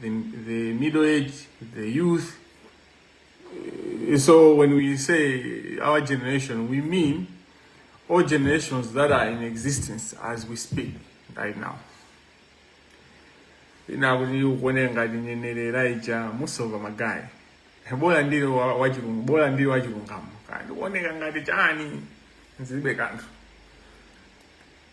the, the middle age, the youth. Eh, so when we say our generation, we mean all generations that are in existence as we speak right now. inakuti ukuoneka ngati nyenerera ija musova magayi bola ndili wachilungu bola ndili wachilungamo kandi kuoneka ngati chani zilibe kanthu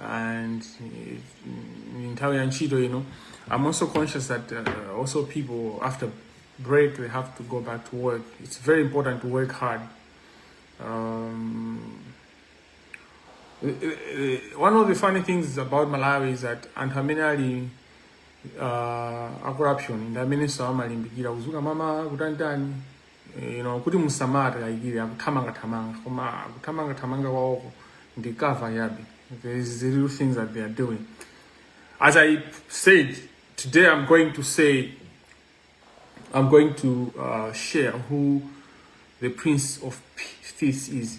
and eh, in nthawi ya ntchito ino i'm also conscious that uh, also people after break they have to go back to work it's very important to work hard um, eh, eh, one of the funny things about malawi is that anthu amene ali uh, a corruption ndi amenenso amalimbikira kuzuka mama kutantani you know, kuti musamatikayikire akuthamangathamanga koma akuthamangathamanga kwawoko ndi cover chabe there is the real things that they are doing as i said today i'm going to say i'm going to uh, share who the prince of peace is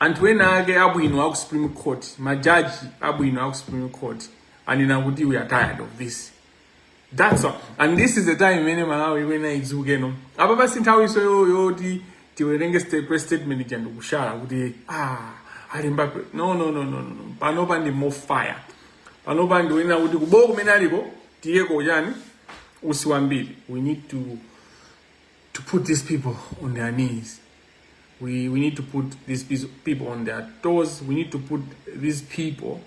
Anthu enaake abwino aku supreme court ma judge abwino aku supreme court anena kuti we are tired of this that's all. and this is the time imene malawi ikuyenera idzuke ndipo apa si nthawinso yo- yoti tiwerenge sta- press statement ija ndikushera kuti ah alimba pre- no no no no no no. panopa ndi more fire panopa ndi onena kuti kubowo kumene aliko tiyeko chani utsi wambiri we need to to put these people on their knees we, we need to put these people on their toes we need to put these people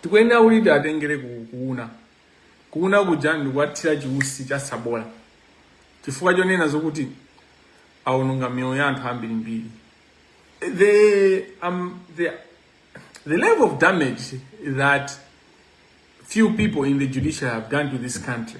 tikuyenera kuti tiatengere kuuna, kuuna kuja ndikuwathira chiutsi cha tsabola chifukwa chonena zokuti aononga miyoyo ya anthu ambirimbiri the, um, the, the level of damage that few people in the judiciary have done to this country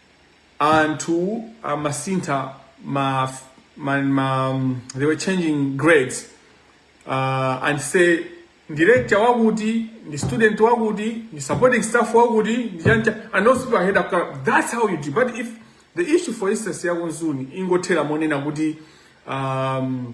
anthu amasintha ma, ma, ma they were changing grades uh, and say lecturer wakuti ndi student wakuti ndi supporting staff wakuti ndi chani chani and those people are held accountable. that's how you do but if the issue for instance yaku Mzuni ingothera monena kuti um,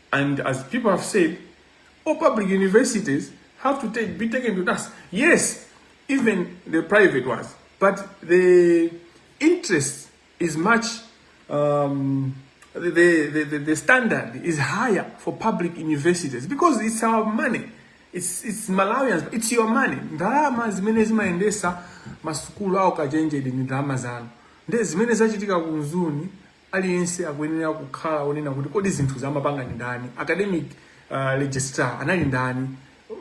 And as people have said, all public universities have to take, be taken to task. Yes, even the private ones, but the interest is much, um, the, the, the, the standard is higher for public universities because it's our money. It's, it's Malawians, it's your money. Ndalama zimene zimayendesa masukulu au kachenjede ni ndalama zanu. Nde zimene zachitika kunzuni, Aliyense akuyenera kukhala onena kuti kodi zinthuzi amapanga ndi ndani? Academic uh, registrar anali ndani?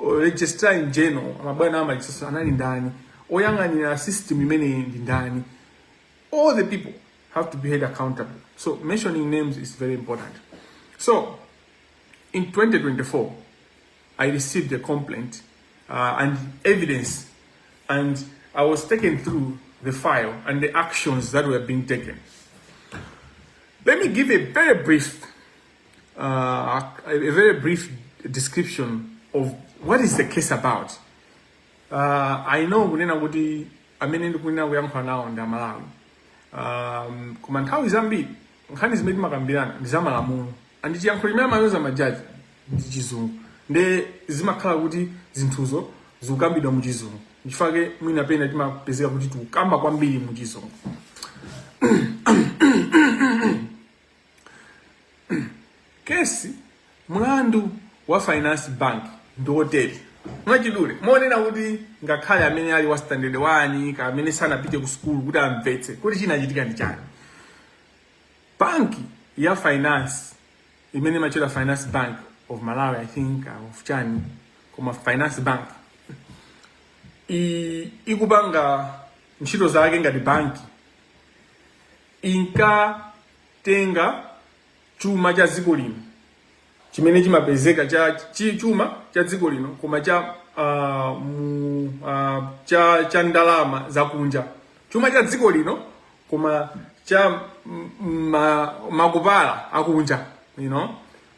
O- Registrar in general, mabwana a ma records anali ndani? Oyang'anira system imeneyi ndi ndani? all the people have to be held accountable. So mentioning names is very important. So in 2024, I received a complaint uh, and evidence, and I was taken through the file and the actions that were being taken. Let me give a very brief, uh, a very brief description of what is the case about. Uh, I know kunena kuti amene ndikuyenera kuyankhula nawo ndi aMalawi um, koma nthawi zambiri nkhani zimene timakambirana ndi zamalamulo and chiyankhulo chimene amayoza majaji ndi chizungu nde zimakhala kuti zinthuzo zikukambidwa mu chizungu nchifake mwina pena timapezeka kuti tikukamba kwambiri mu chizungu kesi Mlandu wa Finance Bank ndi wotere, mwachidule, monena kuti ngakhale amene ali wa standard 1 kaya amene sanapite ku sukulu kuti amvetse kuti chinachitika ndi chani. Banki ya finance imene imatchedwa Finance Bank of Malawi I think uh, of chani koma Finance Bank ikupanga ntchito zake ngati banki inkatenga chuma cha dziko lino chimene chimapezeka cha chi- chuma cha dziko lino koma cha ah, mu, ah, cha cha ndalama zakunja chuma cha dziko lino koma cha m- m- ma, makobili akunja you know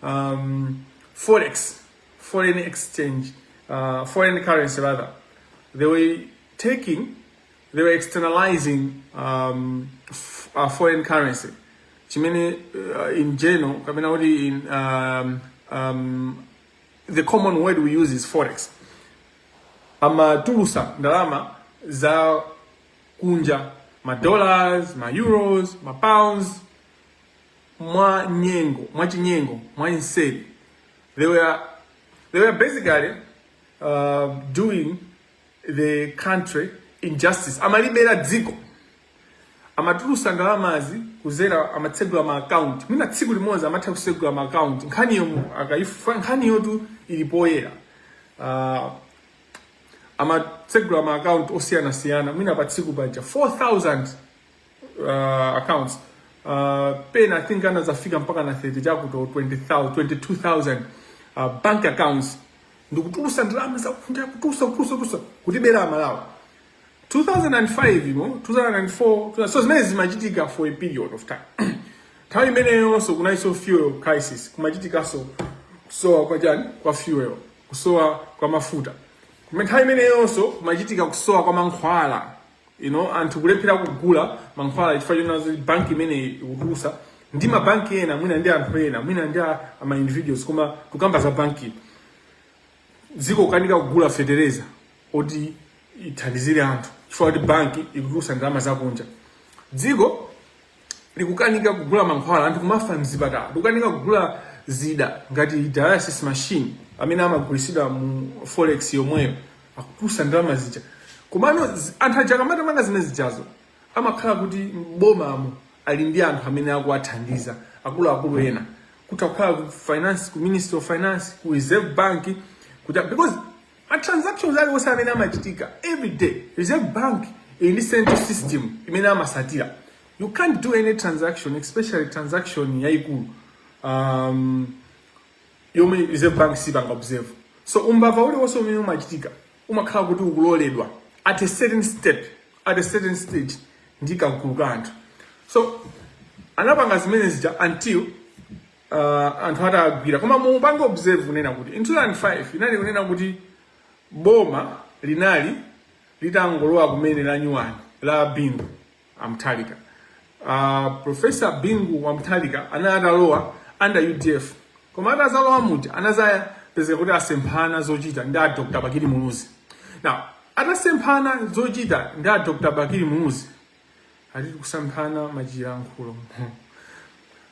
um, forex foreign exchange uh, foreign currency rather they were taking they were externalizing um, f- uh, foreign currency chimene uh, in general kapena kuti in um, um, the common word we use is forex amatulusa ndalama za kunja ma dollars ma euros ma pounds mwa nyengo mwa chinyengo mwamseri they were, they were basically uh, doing the country injustice amalibera dziko amatulusa ndalamazi kuzera amatsegula ma account mwina tsiku limodzi amatha kusegula ma account nkhaniyo mu- mukaifuna nkhaniyotu ili poyera uh, amatsegula ma account osiyanasiyana mwina pa tsiku pokha 4000 uh, accounts uh, pena i think anadzafika mpaka na 30 chakuti 20,000 22000 uh, bank accounts ndikutulusa ndalama zakunja kutulusa kutulusa kutulusa kutibera amalawi 2005 imo 2004 ndi zimene zimachitika for a period of time nthawi imeneyonso kunalinso fuel crisis kumachitikanso kusowa kwa chani kwa fuel kusowa kwa mafuta Kume- nthawi imeneyonso kumachitika kusowa kwa mankhwala you know, anthu kulephera kugula mankhwala chifukwa chonena zoti banki imeneyi ikutulusa ndi mabanki ena mwina ndi anthu ena mwina ndi a- a ma individuals koma tukamba za banki dziko kukanika kugula fetereza woti ithandizire anthu chifukwa kuti banki ikutulusa ndalama zakunja dziko likukanika kugula mankhwala anthu kumafa mzipatala likukanika kugula zida ngati dialysis machine amene amagulisidwa mu forex yomweyo akutulusa ndalama zija komano zi- anthu aja akamatamanga zimene zijazo amakhala kuti m'bomamo ali ndi anthu amene akuwathandiza akuluakulu ena kuti kukhala ku finance ku ministry of finance ku reserve bank kuti because ma transactions aliwonse amene amachitika every day reserve bank ili ndi central system imene amasatira you can't do any transaction especially transaction yayikulu um, yomwe reserve bank siipanga observe so umbava uliwonse umene umachitika umakhala kuti ukuloledwa at a certain step at a certain stage ndi kagulu ka anthu so anapanga zimene zija until uh, anthu atagwira koma mupange observe kunena kuti in 2005 inali kunena kuti boma linali litangolowa kumene la nyuwani la bingu wamthalika uh, profesa bingu wamthalika anali atalowa under udf koma atazalowa muja anazapezeka kuti asemphana zochita ndi a dr bakili muluzi now atasemphana zochita ndi a dr bakili muluzi atiti kusemphana pachilankhulo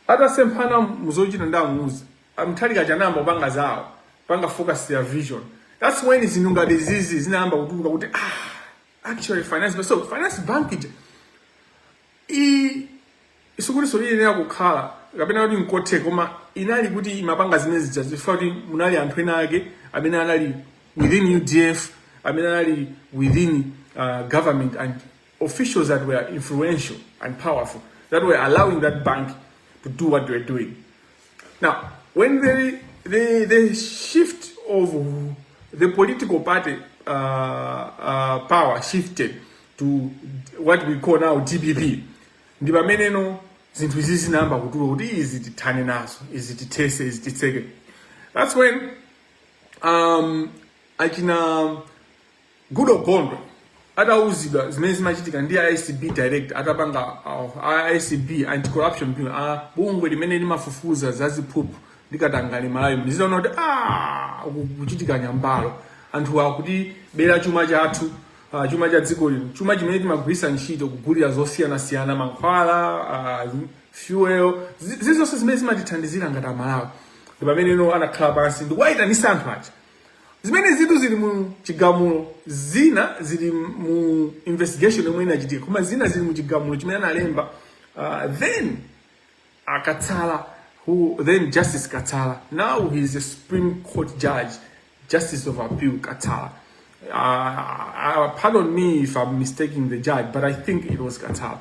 atasemphana muzochita ndi amuluzi amthalika anayamba kupanga zawo panga focus their vision that's when zinthu ngati izi zinayamba kutuluka kuti ah, actually finance bill. so finance bank ija i sikutinso iyenera kukhala kapena kuti nkothe koma inali kuti imapanga zimene zija chifukwa kuti munali anthu ena ake amene anali within udf amene anali within uh, government and officials that were influential and powerful that were allowing that bank to do what they were doing. Now, when the, the, the shift of the political party uh, uh, power shifted to what we call now DPP, ndi pameneno zinthu izi zinayamba kutuluka kuti izi tithane nazo izi tithese izi titseke that's when um, achina Goodall Gondwe atawuzidwa zimene zimachitika ndi ACB director atapanga uh, ACB anti-corruption bureau uh, bungwe limene limafufuza za ziphuphu ndi katangale Malawi nkuzaona kuti ah kukuchitika nyambalo anthu akutibera chuma chathu uh, chuma cha dziko lino chuma chimene timagwirisa ntchito kugulira zosiyana siyana mankhwala uh, fuel zizonse zimene zimatithandizira ngati amalawi ndi pameneno anakhala pansi ndikuwayitanisa anthu aja zimenezi zinthu zili mu chigamulo zina zili mu investigation yomwe inachitika koma zina zili mu chigamulo chimene analemba uh, then akatsala was then justice katsala now he is a supreme court judge justice of appeal katsala uh, uh, pardon me if i'm mistaking the judge but i think it was katsala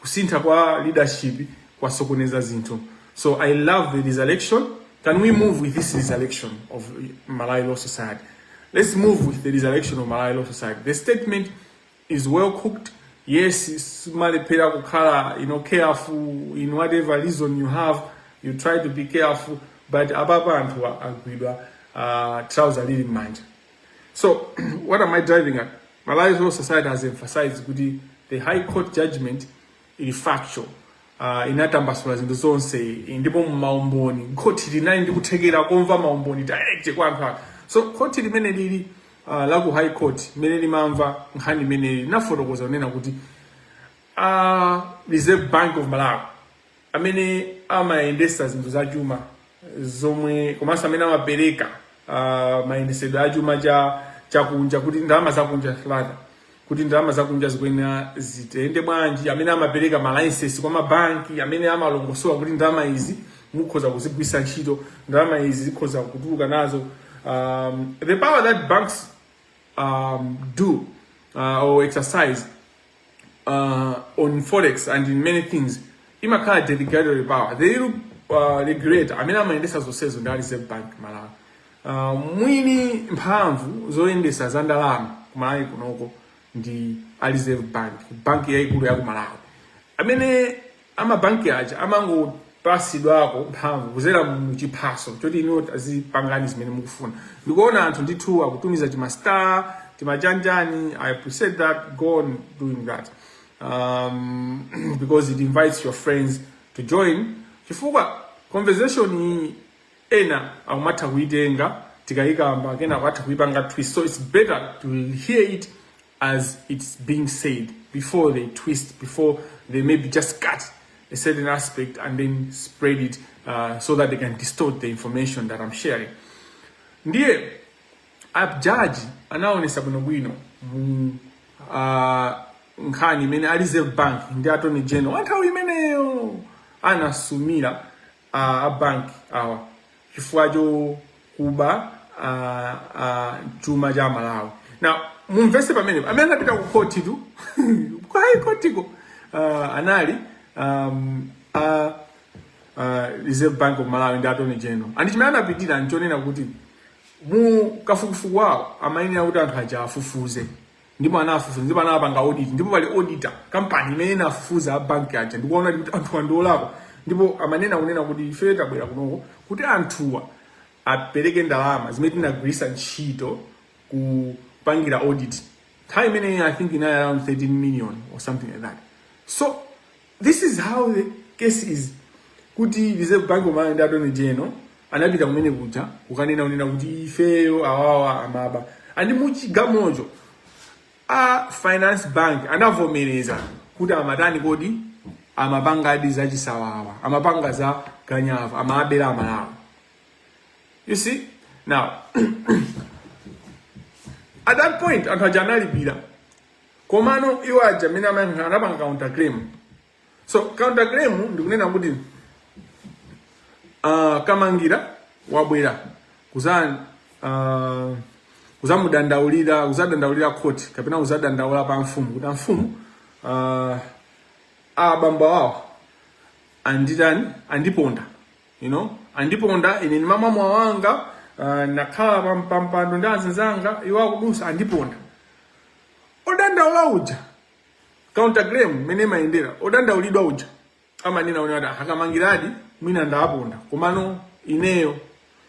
kusintha kwa leadership kwasokoneza zinthu so i love the resurrection can we move with this resurrection of malawi law society let's move with the resurrection of malawi law society the statement is well cooked yes simalephera kukhala you know careful in whatever reason you have you try to be careful but apapa anthu agwidwa uh, trouser lili m'manja So, what am I driving at? Malawi Law Society has emphasized kuti the High Court judgment ili factual uh, inatambasula zinthu zonse ndipo maumboni khoti linali ndi kuthekera kumva maumboni direct kwa anthu so khoti limene lili uh, la ku high court limene limamva nkhani imeneyi linafotokoza kunena kuti uh, reserve bank of malawi amene amayendesa zinthu za chuma zomwe komanso amene amapereka uh, mayendesedwe a chuma cha chakunja kuti ndalama zakunja rather kuti ndalama zakunja zikuyenera ziyende bwanji amene amapereka ma license kwa mabanki amene amalongosola kuti ndalama izi mukhoza kuzigwiritsa ntchito ndalama izi zikhoza kutuluka nazo um, the power that banks um, do uh, or exercise uh, on forex and in many things imakhala delegated power the real uh, regulator amene amayendesa zonsezo ndi a reserve bank malawi uh, mwini mphamvu zoyendesa za ndalama kumalawi kunoko ndi a reserve bank bank yaikulu ya kumalawi amene amabanki aja amangopasidwako mphamvu kuzera mu chiphaso choti inuyo azipangani zimene mukufuna ndikuona anthu ndithu akutumiza timastar timachanjani i appreciate that go on doing that um, because it invites your friends to join chifukwa conversation iyi ena akumatha kuitenga tikayikamba kena akutha kuipanga twist so it's better to hear it as it's being said before they twist, before they maybe just cut a certain aspect and then spread it uh, so that they can distort the information that I'm sharing. Ndiye a judge anaonesa bwinobwino mu uh, nkhani imene a Reserve Bank ndi Attorney General anthawi imeneyo anasumira a a bank awa chifukwa chokuba a a chuma cha Malawi now mumvese pamenepo amene anapita ku khoti tu ku high court ko ah, anali um, a uh, Reserve Bank of Malawi ndi Attorney General and chimene anapitira nchonena kuti mu kafukufuku wawo amayenera kuti anthu aja afufuze ndipo anafufuza ndipo anapanga audit ndipo pali auditor kampani imene inafufuza a bank aja ndikuona kuti anthuwa ndi olakwa ndipo amanena kunena kuti ife tabwera kunoko kuti anthuwa apereke ndalama zimene tinagwiritsa ntchito kupangira audit nthawi imeneyi i think inali around 13 million or something like that so This is how the case is kuti Reserve Bank of Malawi ndi Attorney General anapita kumene kuja kukanena kunena kuti ifeyo awawa amaba and muchigamocho a Finance Bank anavomereza kuti amatani kodi amapangadi za chisawawa amapanga za ganyavu amabera amalawi you see now at that point anthu aja analipira komano iwo aja amene amayankhula anapanga counter claim so counter claim ndikunena kuti uh, Kamangila wabwera kuza uh, kuzamudandaulira kuzadandaulira khoti kapena kuzadandaula pa mfumu kuti amfumu uh, abambo awo anditani andiponda you know andiponda ine ndimamwa mowa wanga uh, nakhala pam- pampando ndi azinzanga iwo akudusa andiponda odandaula uja counterclaim mmene imayendera odandaulidwa uja amanena kuti a Kamangiladi mwina ndaponda komano ineyo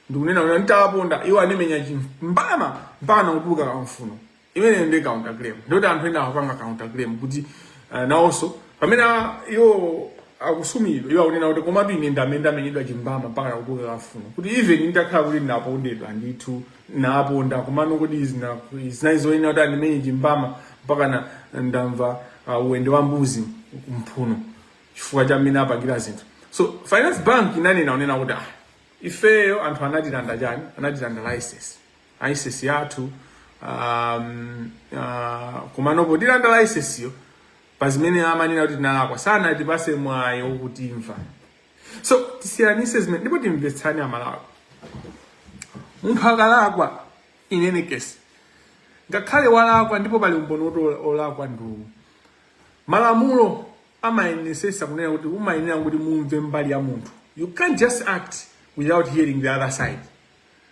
ndikunena kuti nditaponda iwo andimenya chimbama mpaka kutuluka kamfuno imeneyo ndi counter claim ndoti anthu ena akupanga counter claim kuti uh, nawonso pamene a- iwo akusumidwa iwo akunena kuti komatu ine ndamene ndamenyedwa chimbama mpaka kutuluka kamfuno kuti even nditakhala kuti ndinapondedwa ndithu ndaponda komano kuti zina- zinali zoyenera kuti andimenye chimbama mpaka na- ndamva uh, uwende wa mbuzi kumphuno chifukwa cha mmene apangira zinthu so finance bank inanena kunena kuti ah ifeyo anthu anatilanda chani anatilanda license license yathu um, uh, komano potilanda licenseyo pa zimene amanena kuti tinalakwa sanatipase mwayi wotimva so tisiyanise zimene ndipo timvetsane amalawi munthu akalakwa in any case ngakhale walakwa ndipo pali umboni woti ola- olakwa ndiwo malamulo amayenesesa kunena kuti umayenera kuti mumve mbali ya munthu you can't just act without hearing the other side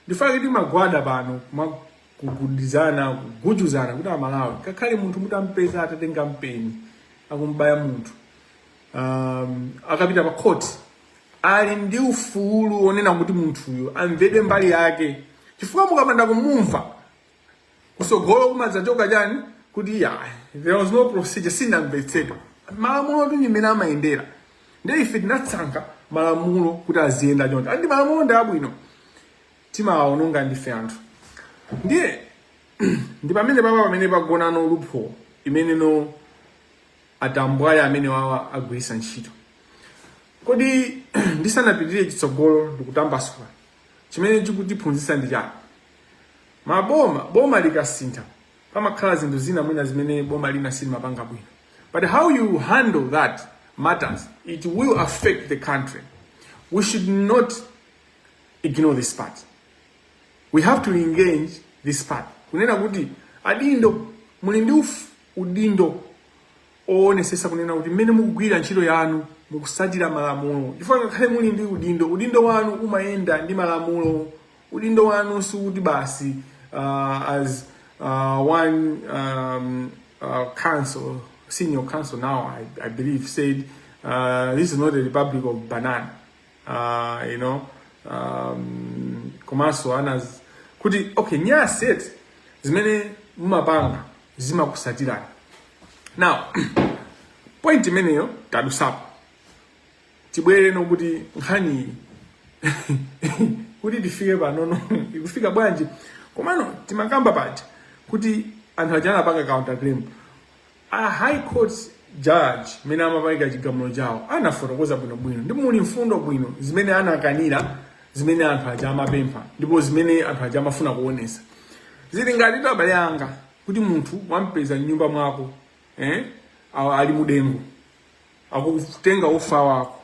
ndikufuna kuti tigwade pano kugugudizana kugujuzana kuti amalawi ngakhale munthu mutampeza atatenga mpeni akumbaya munthu um, akapita pa court ali ndi ufulu onena kuti munthuyo amvedwe mbali yake chifukwa mukapanda kumumva kusogolo kumadzatchoka chani kuti ya there was no procedure sinamvetsedwa malamulo ndi mmene amayendera ndiye ife tinasankha malamulo kuti aziyenda choncho and malamulo ndi abwino timawaononga ndife anthu ndiye ndi pamene papa pamene pagona loophole imeneno atambwali amene awawa agwirisa ntchito kodi ndisanapitirire chitsogolo ndikutambasula chimene chikutiphunzitsa ndi chani maboma boma likasintha pamakhala zinthu zina mwina zimene boma lina silimapanga bwino but how you handle that matters it will affect the country we should not ignore this part we have to engage this part kunena kuti adindo muli ndi uf- udindo kuwonesesa kunena kuti mmene mukugwira ntchito yanu mukusatira malamulo chifukwa ngakhale muli ndi udindo udindo wanu umayenda ndi malamulo udindo wanu sikuti basi uh, as uh, one um, uh, council senior council now I, I believe said uh, this is not a republic of banana uh, you know um, komanso ana z- kuti okay nyasi eti zimene mumapanga zimakusatirani now point imeneyo tadusapo tibwere kuno kuti nkhaniyi kuti tifike panono ikufika bwanji komano timakamba paja kuti anthu aja anapanga counter claim A high court judge mmene amapereka chigamulo chawo anafotokoza bwinobwino ndipo muli mfundo bwino zimene anakanira zimene anthu aja amapempha ndipo zimene anthu aja amafuna kuonesa zili ngati abale anga kuti munthu wampeza mnyumba mwako eh, a- ali mudengu akutenga ufa wako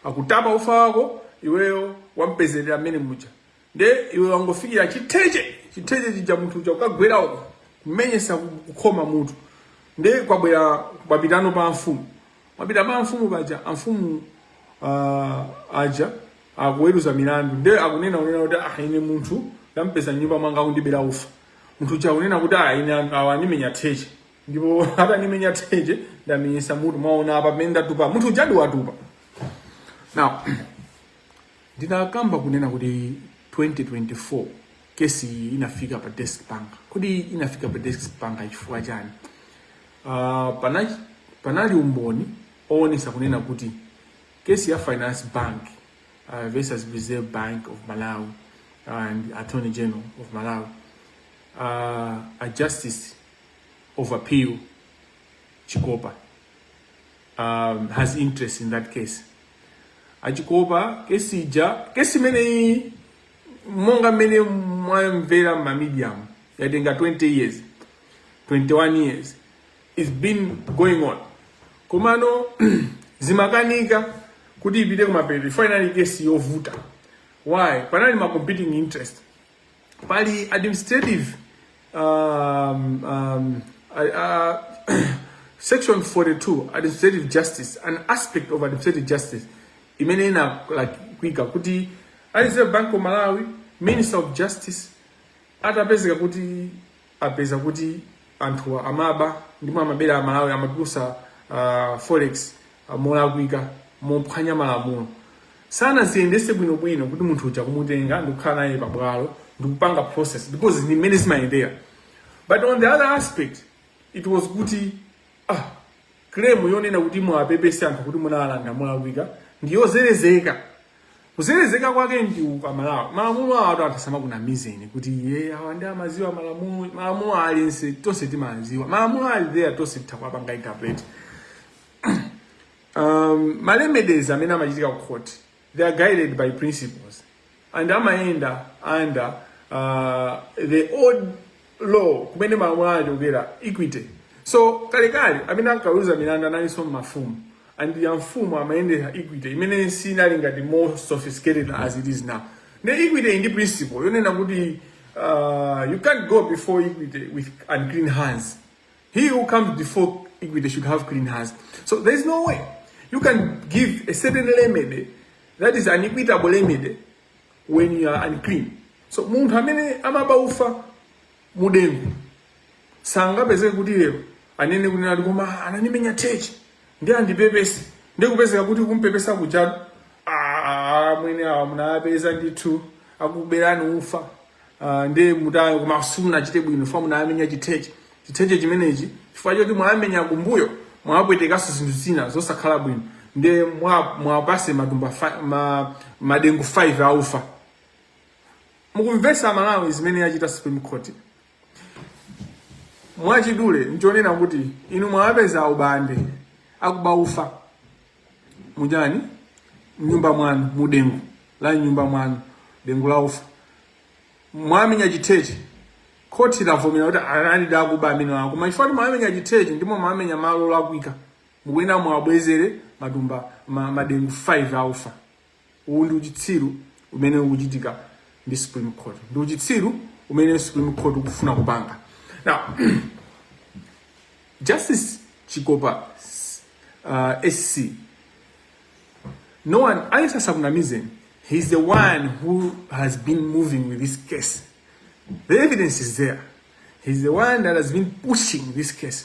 akutapa ufa wako iweyo wampezerera mmene muja nde iwe wangofikira chitheche chitheche chija munthu uja ukagwera uko kumenyesa ku- kukhoma mutu nde kwabwera kuyitana pa amfumu mwapita pa amfumu paja amfumu ah, aja akuweruza milandu nde akunena kunena kuti ah ine munthu ndampeza nyumba mwanga akundibera ufa munthu uja akunena kuti ah ine anthu awa andimenya theche ndipo atanimenya theche ndamenyesa mutu mwaona apa pamene ndatupa munthu uja ndiwatupa now Ndinakamba kunena kuti 2024 kesi iyi inafika pa desk panga. Kodi inafika pa desk panga chifukwa chani? Uh, pana, panali umboni owonesa kunena kuti kesi ya Finance Bank uh, versus Reserve Bank of Malawi and Attorney General of Malawi uh, a Justice of Appeal Chikopa um, has interest in that case. achikopa kesi ija kesi imeneyi monga mmene mwamvera mmamediamu yatenga 20 years 21 years its been going on komano zimakanika kuti ipite kumapeto inali kesi yovuta why panali ma competing interest pali administrative um, um, uh, section 42 administrative justice an aspect of administrative justice imene inakwika kuti a reserve bank of malawi minister of justice atapezeka kuti apeza kuti anthuwa amaba ndipo amabera amalawi amatulusa uh, forex uh, molakwika mophwanya malamulo sanaziyendese bwinobwino kuti munthu uja kumutenga ndikukhala naye pabwalo ndikupanga process because ndi mmene zimayendera but on the other aspect it was kuti ah Claim yonena kuti muwapepese anthu kuti munawalanda molakwika ndi yozelezeka. Kuzelezeka kwake ndi uku amalawi. Malamulo awatu anthu asamakunamizeni kuti iye awa ndi amaziwa malamulo. Malamulo aliyense tonse timaziwa. Malamulo ali there tonse titha kuwapanga interpret. Um, ma remedies amene amachitika ku court they are guided by principles and amayenda under uh, the old law kumene malamulo anachokera equity so kalekale amene ankaweruza milandu analinso mafumu and ya mfumu amayendera equity imene sinali ngati more sophisticated as it is now ne equity ili ndi principle yonena kuti uh, you can't go before equity with unclean hands He who comes before equity should have clean hands. So there is no way you can give a certain remedy that is an equitable remedy when you are unclean. So munthu amene amaba ufa mudengu sangapezeke kuti lero anene kunena kuti koma ananimenya theche ndi andipepese ndi kupezeka kuti kumpepesa kujatu amwene awa munawapeza ndithu akuberani ufa uh, ndi mutayo koma simunachite bwino chifukwa munawamenya chitheche chitheche chimenechi chifukwa choti mwawamenya kumbuyo mwapwetekanso zinthu zina zosakhala bwino ndiye muwapase mwa matumba ma, madengu 5 aufa mukumvesa amalawi zimene yachita supreme court mwachidule nchonena kuti inu mwawapeza ubande akuba ufa mujeni mnyumba mwanu mudengu la mnyumba mwanu dengu la ufa mwamenya chitheche khoti lavomera kuti analidi akuba amenewa koma chifukwa kuti mwamenya chitheche ndimo mwamenya malo olakwika mukuyenera muwabwezere matumba ma, madengu 5 a ufa uwu ndi uchitsiru umene ukuchitika ndi supreme court ndi uchitsiru umene supreme court ukufuna kupanga now justice chikopa uh, sc no one aliyense asakunamizeni he is the one who has been moving with this case the evidence is there he is the one that has been pushing this case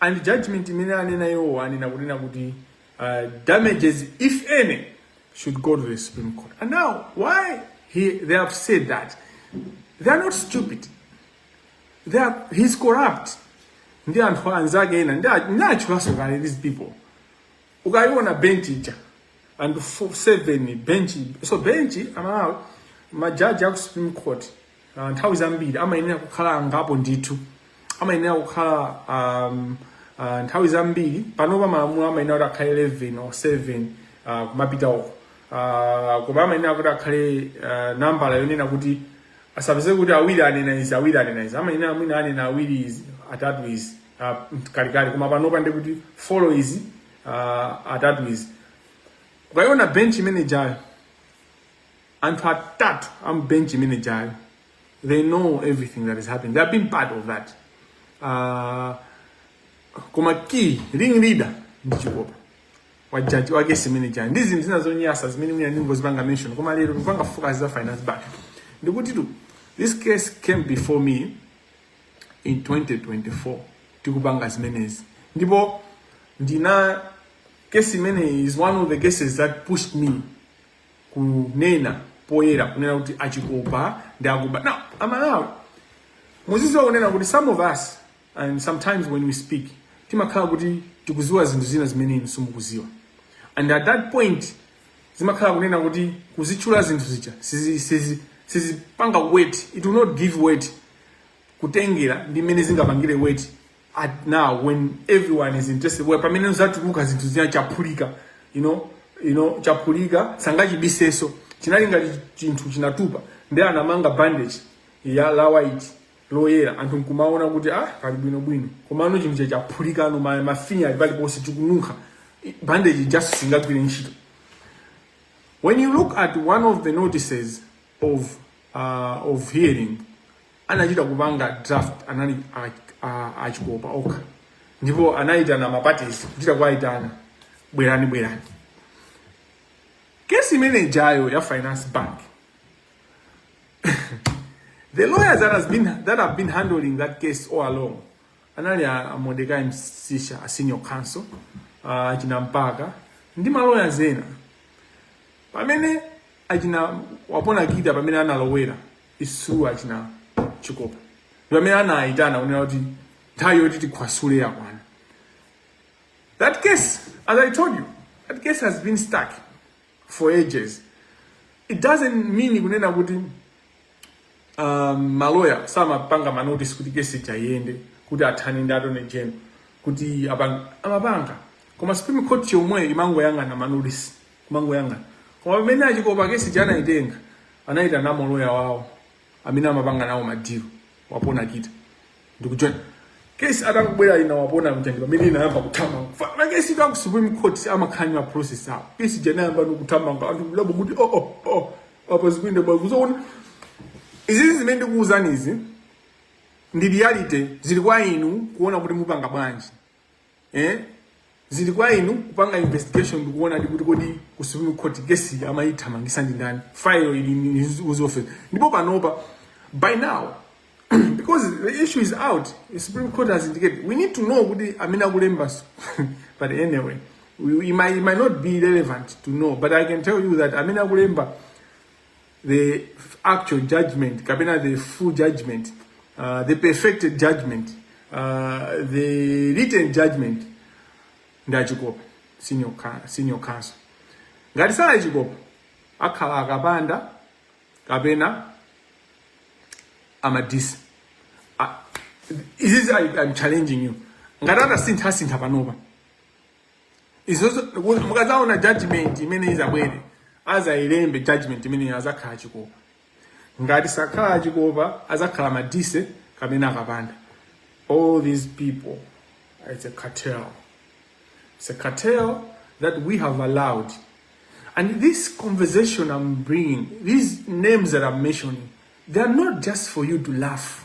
and judgment imene anena iwowo anena kunena kuti uh, damages if any should go to the supreme court and now why he, they have said that they are not stupid they are, he's corrupt ndi anthu anzake ena ndiwatchulaso kale these people ukayiona bench ija and seven bench so bench amalawi majaji aku supreme court uh, nthawi zambiri amayenera kukhala angapo ndithu amayenera kukhala um, uh, nthawi zambiri panopa malamulo amayenera kuti akhale 11 or 7 uh, kumapita uko uh, koma amayenera kuti akhale uh, nambala yonena kuti asapeze kuti awiri anena izi awiri anena izi amayenera mwina anena awiri izi atatu izi uh, kalikali koma panopa ndikuti folo izi uh, atatu izi ukayiona bench imene ijayo anthu atatu a mu bench imene ijayo they know everything that is happening they have been part of that uh, koma key ring leader ndi chikopa wa majaji a kesi imene ijayi ndi zinthu zina zonyasa zimene mwina ndingozipanga mention koma lero ndikupanga focus za Finance Bank ndikuti this case came before me in 2024 tikupanga zimenezi ndipo ndi case imene is one of the cases that pushed me kunena poyera kunena kuti a Chikopa ndi akuba now amalawi muziziwa kunena kuti some of us and sometimes when we speak timakhala kuti tikuziwa zinthu zina zimene inu simukuziwa and at that point zimakhala kunena kuti kuzitchula zinthu zija sizi- sizi- sizipanga weight it will not give weight kutengera ndi mmene zingapangire weight at now when everyone is interested where pamene uzatulutsa zinthu zina chaphulika you know you know chaphulika sangachibiseso chinali ngati chinthu chinatupa ndi anamanga bandage ya la white loyera anthu nkumaona kuti ah pali bwino bwino komano chinthu chija chaphulika pano ma mafinya ali paliponse chikununkha I- bandage ija singagwire ntchito when you look at one of the notices of uh, of hearing anachita kupanga draft anali a- a- a Chikopa okha ndipo anayitana mapatisi kuchita kuwayitana bwerani bwerani kesi imene ijayo ya finance bank the lawyers that, has been, that have been handling that case all along anali a, a Mordecai Msisha a senior counsel a achina Mpaka ndi maloya ena pamene achina Wapona Kita pamene analowera is through achina Chikopa pamene anayitana kunena kuti nthawi yoti tikhwasule yakwana that case as i told you that case has been stuck for ages it doesn't mean kunena kuti um, maloya samapanga manotice kuti kesi ija iyende kuti athane ndi Attorney General kuti apanga amapanga koma supreme court yomweyo imangoyang'ana manotice kumangoyang'ana koma pamene achikopa kesi ija anaitenga anaitana maloya wawo amene amapanga nawo madilo Wapona Kita ndikujoin kesi atakubwera ina Wapona Mtandi pamene inayamba kuthamanga Fa- makesitu a ku supreme court amakhala ndi process awo kesi ija inayamba nikuthamanga anthu kudabwa kuti oh, oh, oh, apa zikuyenda bwa kuzoona izizi zimene ndikuwuzani izi ndi reality zili kwa inu kuona kuti mupanga bwanji eh zili kwa inu kupanga investigation ndikuona ndi kuti kodi ku Supreme Court kesi amayithamangisa ndi ndani file ili in whose office ndipo panopa by now because the issue is out the Supreme Court has indicated we need to know kuti amene akulemba but anyway we, it, might, it might not be relevant to know but I can tell you that amene akulemba the actual judgment kapena the full judgment uh, the perfected judgment uh, the written judgment ndi achikopa senior, ca- senior counsel ngati sali achikopa akhala akapanda kapena a Madise izizi I- I'm challenging you ngati atasintha asintha panopa izo mukazaona judgment imene izabwere azayilembe judgment imene azakhala chikopa ngati sakhala achikopa azakhala madise kapena akapanda all these people it's a cartel it's a cartel that we have allowed and this conversation i'm bringing these names that i'm mentioning they are not just for you to laugh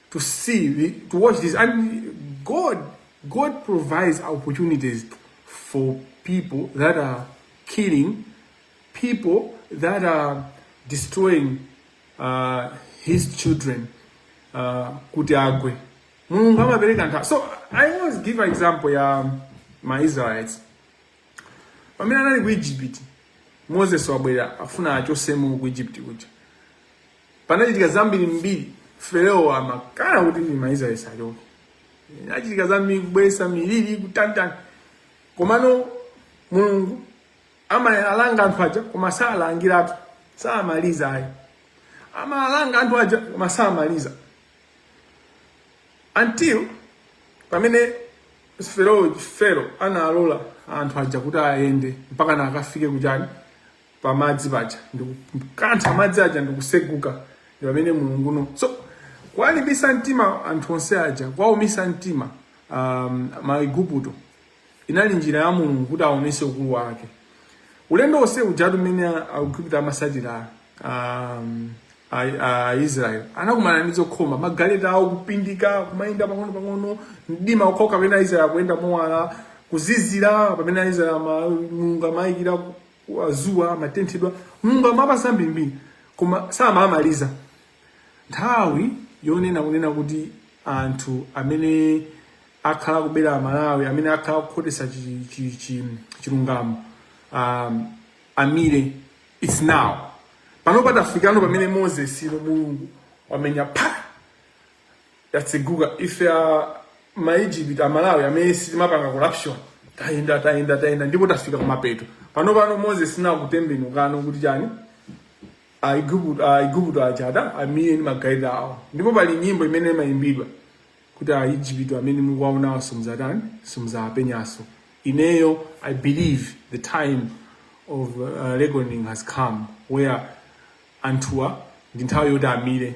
to see the, to watch this and god god provides opportunities for people that are killing people that are destroying uh, his children uh, kuti agwe mulungu amapereka nthawi so i always give example ya maisraelites pamene anali ku egypt moses wabwera afuna achotsemo ku egypt kuja panachitika zambirimbiri Farao amakana kuti ndi Aisraeli sachoke achitika zambiri kubweresa miliri kutantani komano mulungu amalanga anthu aja koma salangiratu samaliza ayi amalanga anthu aja koma samaliza until pamene Farao Farao analola anthu aja kuti ayende mpaka nakafike kujani pamadzi paja ndikukantha madzi aja ndikuseguka ndi pamene mulungu now so kuwalimbisa mtima anthu onse aja kuwaumisa mtima um, maiguputo inali njira ya mulungu kuti aonese ukulu wake ulendo onse ujatu mmene aigupto amasatira um, aisraeli anakumana ndi zokhoma magaleta awo kupindika kumayenda pang'ono pang'ono mdima okhawo pamene aisraeli akuyenda mowala kuzizira pamene aisraeli mulungu amawayikira wazuwa amatenthedwa mulungu amapatsa mbirimbiri koma samamaliza nthawi yonena kunena kuti anthu amene akhala kubera amalawi amene akhala kukhotesa chi- chi- chi- chilungamo amire its now pano patafikano pamene moses no mulungu wamenya pa yatseguka ife a ma Egypt a Malawi amene sitimapanga corruption tayenda tayenda tayenda ndipo tafika kumapeto pano pano Moses nakutembenukano kuti chani Aiguputo Aiguputo achada amire ndi magaleta awo ndipo pali nyimbo imene imayimbidwa kuti a Egypt amene mukuwaonawo simuzatani simuzawapenyaso ineyo I believe the time of uh, reckoning has come where anthuwa ndi nthawi yoti amire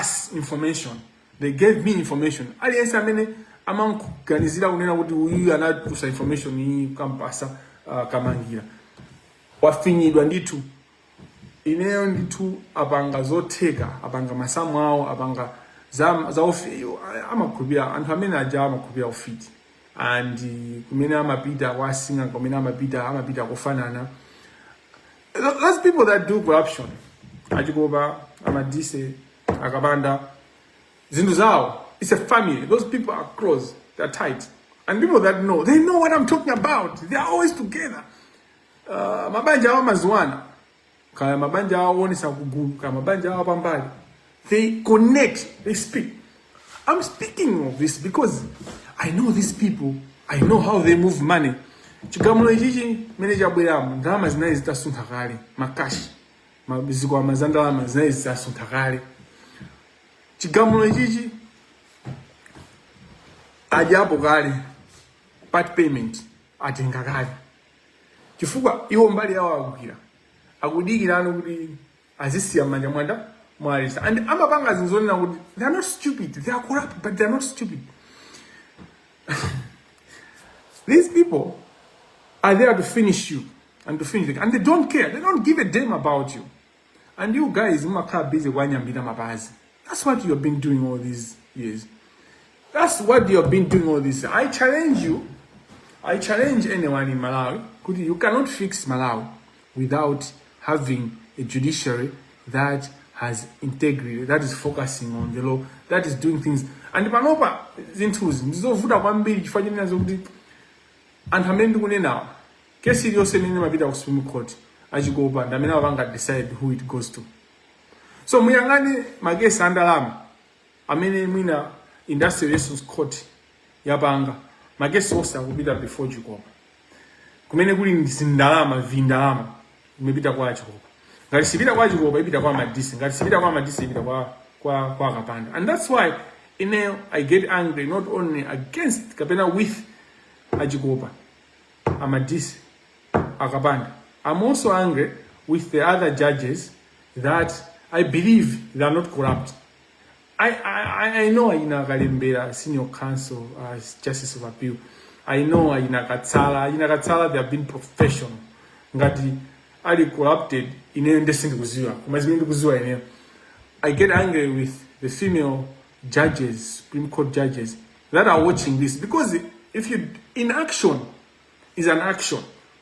us information they gave me information aliyense amene amankuganizira kunena kuti uyu anatulutsa information iyi kampasa uh, kamangila wafinyidwa ndithu ineyo ndithu apanga zotheka apanga masamu awo apanga za, za ofi- amakhulupira anthu amene aja amakhulupira ufiti and kumene amapita kwa asing'anga kumene amapita amapita kufanana Tho- Those people that do corruption, Ajikoba, Amadise, Akabanda, zinthu zawo it's a family those people are close they're tight and people that know they know what i'm talking about they are always together uh, mabanja awo amaziwana kaya mabanja awo onesa kugulu kaya mabanja awo pambali They connect, they speak. I'm speaking of this because I know these people, I know how they move money. Chigamulo ichichi mene chabweramu ndalama zinali zitasuntha kale makashi zikwama za ndalama zinali zitasuntha kale chigamulo ichichi adyapo kale part payment atenga kale chifukwa iwo mbali yawo agwira akudikirano kuti azisiya m'manja mwanda mwalesa and amapanga zinthu zonena kuti they are not stupid they are corrupt but they are not stupid these people are there to finish you and to finish the, and they don't care they don't give a damn about you and you guys mumakhala busy kuwanyambita mapazi That's what you have been doing all these years. That's what you have been doing all this. I challenge you. I challenge anyone in Malawi. Kuti you cannot fix Malawi without having a judiciary that has integrity, that is focusing on the law, that is doing things. And panopa zinthuzi ndizovuta kwambiri chifukwa chonena zokuti anthu amene ndikunenawa kesi iliyonse imene imapita ku supreme court achikopa ndi amene amapanga decide who it goes to so muyang'ane makesi a ndalama amene mwina industrial relations court yapanga makesi onse akupita before chikopa kumene kuli ndi zindalama vindalama imapita kwa chikopa ngati sipita kwa chikopa ipita kwa madise ngati sipita kwa madise ipita kwa kwa kwa akapanda and that's why ineyo i get angry not only against kapena with achikopa amadise akapanda i'm also angry with the other judges that i believe they are not corrupt i, I, I know ayina akalembera senior council uh, justice of appeal i know ayina katsala ayina katsala they have been professional ngati ali corrupted ineyo nde sindikuziwa koma zimene ndikuziwa ineyo i get angry with the female judges supreme court judges that are watching this because if you inaction is an action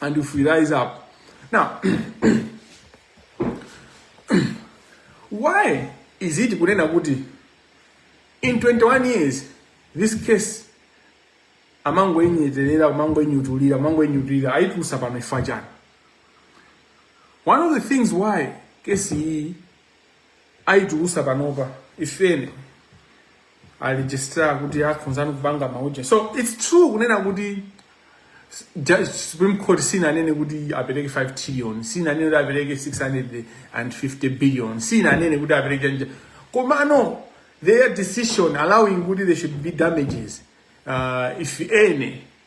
and if we rise up. Now, why is it kunena kuti in 21 years this case amangoinyeterera amangoinyutulira amangoinyutulira aitulutsa pano chifukwa chani one of the things why case iyi aitulusa panopa ifeni a registrar kuti akhonzani kupanga mauja so it's true kunena kuti Judge Supreme Court sinanene kuti apereke 5 trillion sinanene kuti apereke 650 billion sinanene kuti apereke nja komano their decision allowing kuti there should be damages uh, if any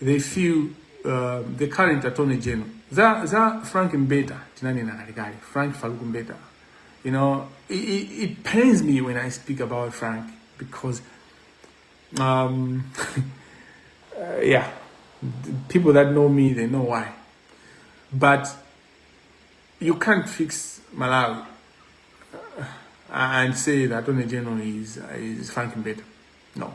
they feel uh, the current attorney general za za Frank Mbeta tinanena kalikali Frank Faluku Mbeta you know it, it, it pains me when I speak about Frank because um, uh, yeah people that know me they know why but you can't fix Malawi uh, and say that attorney general is is Frank Mbeta no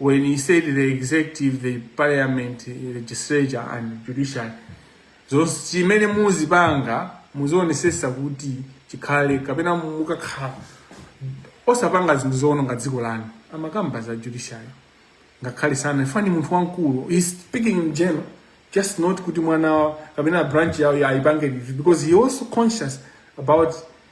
when he said the executive the parliament legislature and judiciary zonse chimene muzipanga muzionesesa kuti chikhale kapena mukakhala osapanga zinthu zoononga dziko lanu amakamba za judiciary ngakhale sana ifani munthu wamkulu he's speaking in general just not kuti mwana wa- kapena branch yawo aipange review because he's also conscious about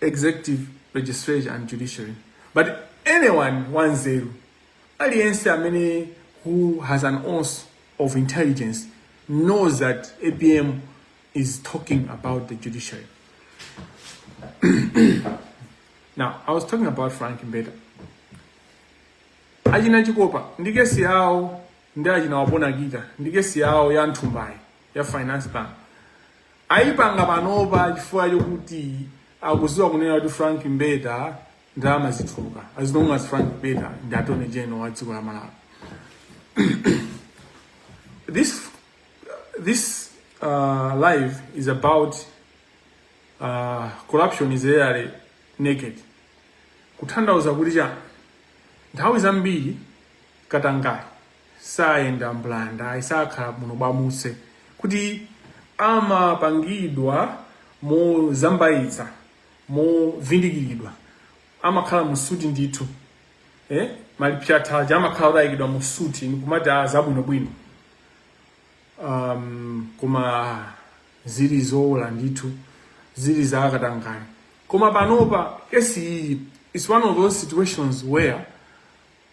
executive legislature and judiciary but anyone wanzeru aliyense amene who has an ounce of intelligence knows that APM is talking about the judiciary now i was talking about Frank Mbeta achina Chikopa ndi case yawo ndi achina Wapona Kita ndi case yawo ya nthumbayi ya Finance Bank Ayipanga panopa chifukwa chokuti akuziwa kunena kuti Frank Mbeta ndalama zituluka as long as Frank Mbeta ndi Attorney General wa dziko la Malawi. This this uh, live is about uh, corruption is rarely naked. Kuthandauza kuti chani nthawi zambiri katangale sayenda mbulanda ayi sakhala buno bwamuswe kuti amapangidwa mozambayitsa movindikiridwa amakhala mu suti ndithu eh? ma lipstick aja amakhala ataikidwa mu suti nikumati a zabwinobwino um, koma zili zowola ndithu zili za katangale koma panopa case iyi is one of those situations where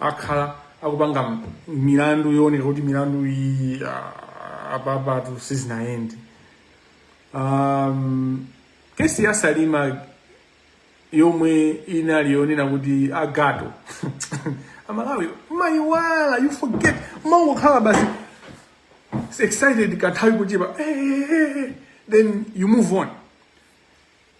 akhala akupanga milandu yooneka kuti milandu iyi ah, apapatu sizinayende um, case ya Salima yomwe inali yonena kuti agato Amalawi mumayiwala you forget mumangokhala basi excited kanthawi kochepa eh, eh, eh, eh, then you move on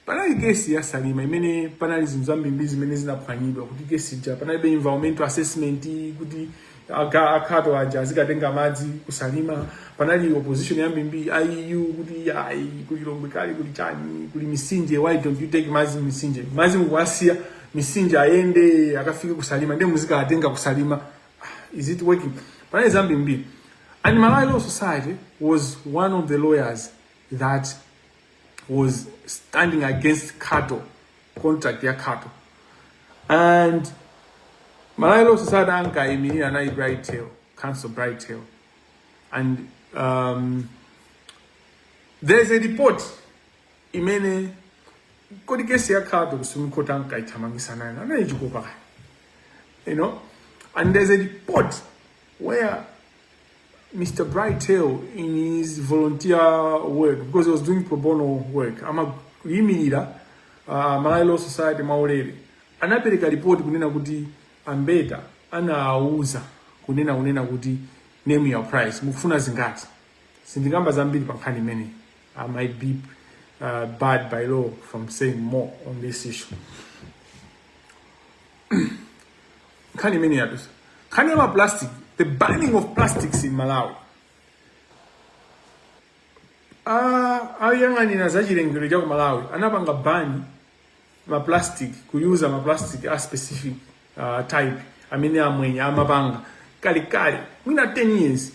Panali kesi ya Salima imene panali zinthu zambirimbiri zimene zinaphwanyidwa kuti kesi ija panalibe environmental assessment kuti aga- a Khato aja azikatenga madzi ku Salima panali opposition yambirimbiri EU kuti ayi kuli lomwe kali kuli chani kuli misinje why don't you take madzi misinje madzi mukuwasiya misinje ayende akafike ku Salima ndiye muzikawatenga ku Salima is it working panali zambirimbiri and malawi law society was one of the lawyers that was standing against Khato contract ya Khato and malawi law society ankayimirira anali bright theu counsel bright theu and um, there's a report imene kodi kesi ya Khato ku supreme court ankayithamangisa nayo anali Chikopa you know and there's a report where Mr. Bright Theu, in his volunteer work, because he was doing pro bono work, amayimirira uh, Malawi Law Society maulere anapereka ripoti kunena kuti a Mbeta anawauza kunena kunena kuti name your price mukufuna zingati sindikamba zambiri pa nkhani imeneyi i might be uh, barred by law from saying more on this issue nkhani imene yadusa nkhani ya maplastic the banning of plastics in malawi Ah, ayang'anira za chilengedwe cha ku malawi anapanga ban maplastic kuyuza maplastic a specific uh, type amene amwenye amapanga kalekale mwina 10 years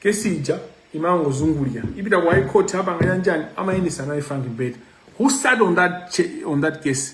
kesi ija imangozungulira ipita ku high court apanga yanjani amayendesa anali frank mbeta who sat on that, cha- on that case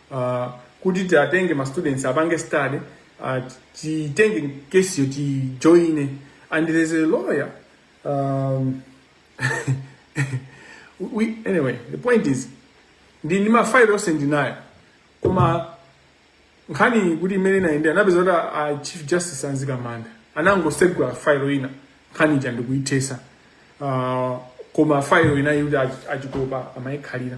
uh, kuti tiwatenge ma students apange study uh, titenge kesiyo tijoine and there is a lawyer um, we, anyway the point is ndi ndi mafailo onse ndinayo koma nkhani kuti imene inayendera napeza kuti a- a chief justice a Mzikamanda anangosegula failo ina nkhani ija ndikuithesa uh, koma failo inayi kuti a Chikopa amayikhalira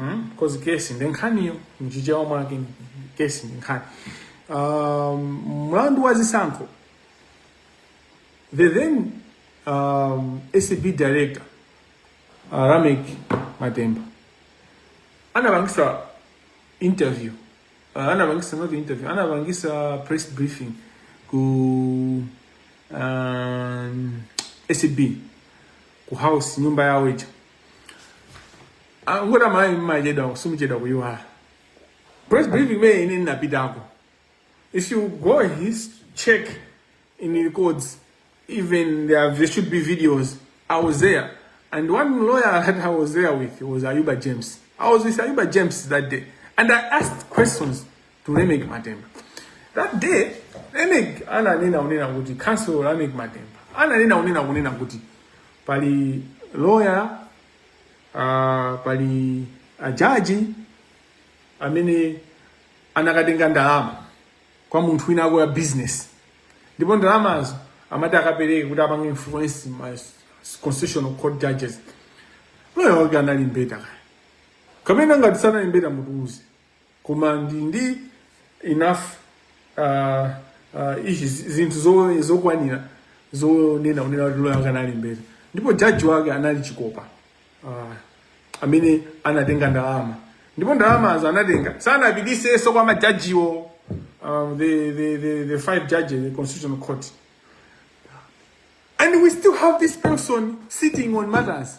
mm? cause kesi ndi nkhaniyo mchichewa mwake kesi ndi nkhani um, mlandu wa zisankho the then um, acb director uh, reyneck matemba anapangisa interview uh, anapangisa not interview anapangisa press briefing ku um, acb ku house nyumba yawo ija angona mayi mmachedwa kusimuchedwa kuyiwala press briefing me ine ndinapitako if you go his check in the codes even there, there should be videos i was there and one lawyer that i was there with was ayuba james i was with ayuba james that day and i asked questions to Lameck Matemba. That day, Lameck ananena unena kuti Counsel Lameck Matemba ananena unena kunena kuti pali lawyer uh, pali ajaji amene anakatenga ndalama kwa munthu winawake wa business ndipo ndalamazo amati akapereke kuti apange influence ma constitutional court judges lawyer wake anali mbeta kaya kapena ngati sanali mbeta mutuuze koma ndi ndi enough uh, uh, izi zinthu zo- zokwanira zonena unena kuti loya wake anali mbeta ndipo jaji wake anali chikopa uh, amene anatenga ndalama ndipo ndalamazo anatenga sanapititsenso kwa majajiwo um, the, the, the, the five judges the constitutional court and we still have this person sitting on matters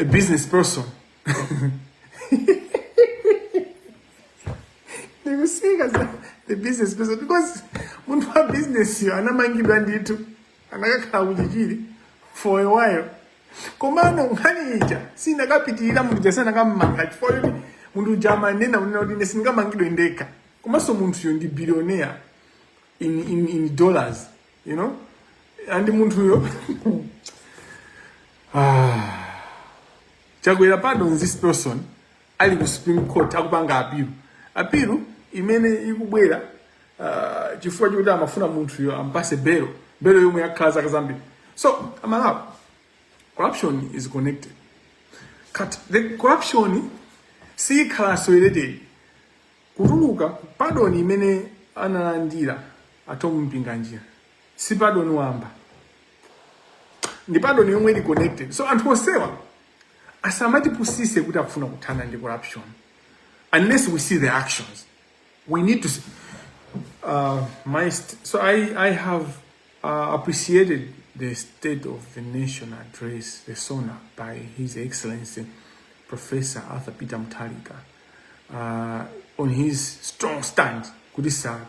a business person ndikusikiza the business person because munthu wa business yo anamangidwa ndithu anakakhala kuchichiri for a while komano nkhani ija sinakapitirira munthu uja sanakammanga chifukwa choti munthu uja amanena kunena kuti ine sindikamangidwe ndekha komanso munthuyo ndi billionaire in, in, in dollars you know and munthuyo ah. chakwera pardons this person ali ku supreme court akupanga apilu apilu imene ikubwera uh, chifukwa chokuti amafuna munthuyo ampatse belo belo yomwe yakhala zaka zambiri so amalawi corruption is connected the corruption siyikhalanso related Kutuluka, Pardon imene analandira a Thom Mpinganjira si pardon wamba, ndi pardon yomwe ili connected. So anthu onsewa asamatipusitse kuti akufuna kuthana ndi corruption unless we see the actions we need to see. Uh, my so I, I have Uh, appreciated the State of the Nation address, the SONA, by His Excellency Professor Arthur Peter Mutharika uh, on his strong stand kuti sa-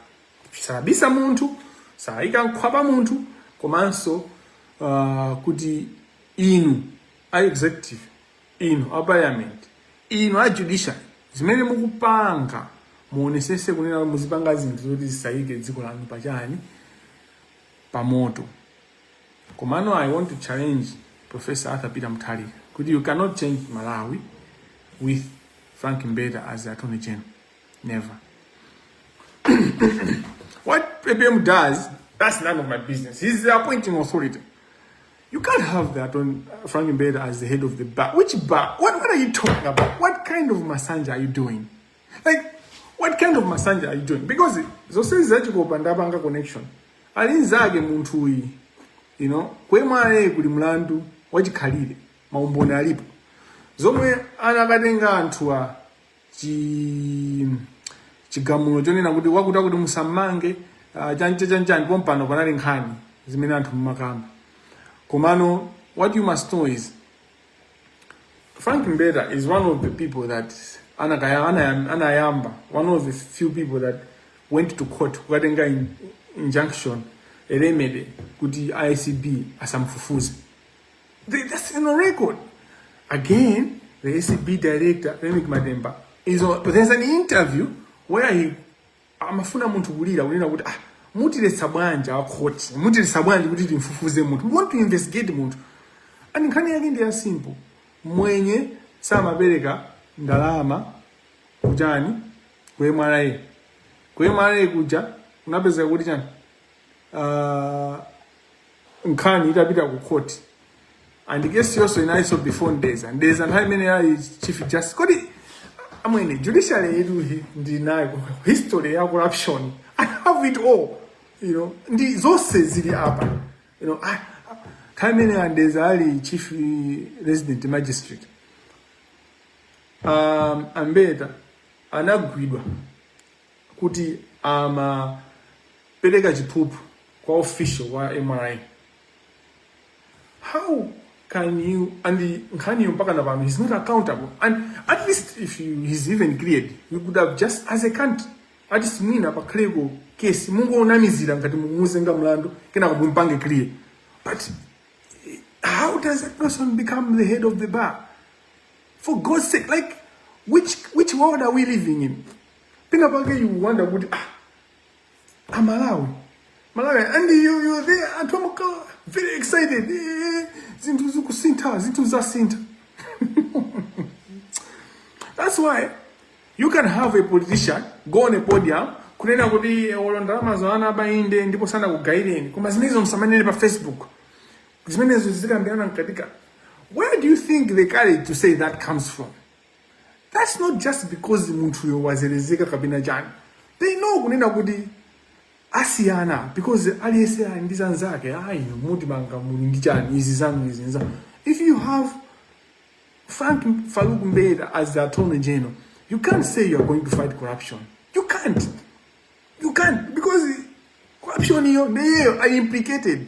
sabisa munthu saika nkhwapa munthu komanso uh, kuti inu a executive Inu a parliament, inu a judiciary zimene mukupanga muonetsetse kunena kuti muzipanga zinthu zoti zisaike dziko lanu pa chani? Pa moto. Komano I want to challenge Professor Arthur Peter Mutharika kuti you cannot change Malawi with Frank Mbeta as the Attorney General. Never. What APM does, that's none of my business. He's the appointing authority. You can't have that on uh, Frank Mbeda as the head of the bar. Which bar? What, what are you talking about? What kind of massage are you doing? Like, what kind of massage are you doing? Because zose zachikopa ndapanga connection. Alinzake munthu uyi. You know, kwemwaye kuli mlandu wachikhalire maumboni alipo. Zomwe anakatenga anthu a chi chigamulo chonena kuti wakuti akuti musammange uh, chanchani chanchani pompano panali nkhani zimene anthu mumakamba komano what you must know is frank mbeta is one of the people that anakaya- anayam- anayamba one of the few people that went to court kukatenga in- injunction a remedy kuti acb asamfufuze Th- That's in the record. Again, the ACB director, Reyneck Matemba, is on, there's an interview where he amafuna munthu kulira kunena kuti ah, mutiletsa bwanji akhoti mutiletsa bwanji kuti timfufuze munthu we want to investigate munthu and nkhani yake ndi ya simple mwenye samapereka ndalama kuchani ku mra ku mra kuja unapeza kuti chani uh, nkhani itapita ku court and case yonso inalinso before Mdeza Mdeza nthawi imene ali chief justice kodi amwene judiciary yedu hi- ndi nayo history ya corruption i have it all you know ndi zonse zili apa you know I- nthawi imene a Mdeza ali chief eh, resident magistrate um, a Mbeta anagwidwa kuti amapereka chiphuphu kwa official wa mra how can you and nkhaniyo mpaka na pano he's not accountable and at least if you, he's even cleared we could have just as a country at least mwina pakhaleko kesi mungonamizira ngati mumuzenga mlandu kenako mumpange clear but eh, how does that person become the head of the bar for god's sake like which which world are we living in pena pake you wonder kuti ah amalawi malawi and you, you are there anthu amakhala very excited eh, eh, eh, zinthu zikusintha zinthu zasintha that's why you can have a politician go on a podium kunena kuti olo ndalamazo anaba inde ndipo sanakugayireni koma zimenezo musamanene pa facebook zimenezo zizikambirana mkatika where do you think the courage to say that comes from That's not just because munthuyo wazelezeka kapena chani. They know kunena kuti asiyana because aliyense ali ndi zanzake ayi mutimanga muli ndi chani izi zanu izi nza. If you have Frank Farouk Mbeta as the attorney general, you can't say you are going to fight corruption. You can't. You can't because corruption iyo ndiyo are implicated.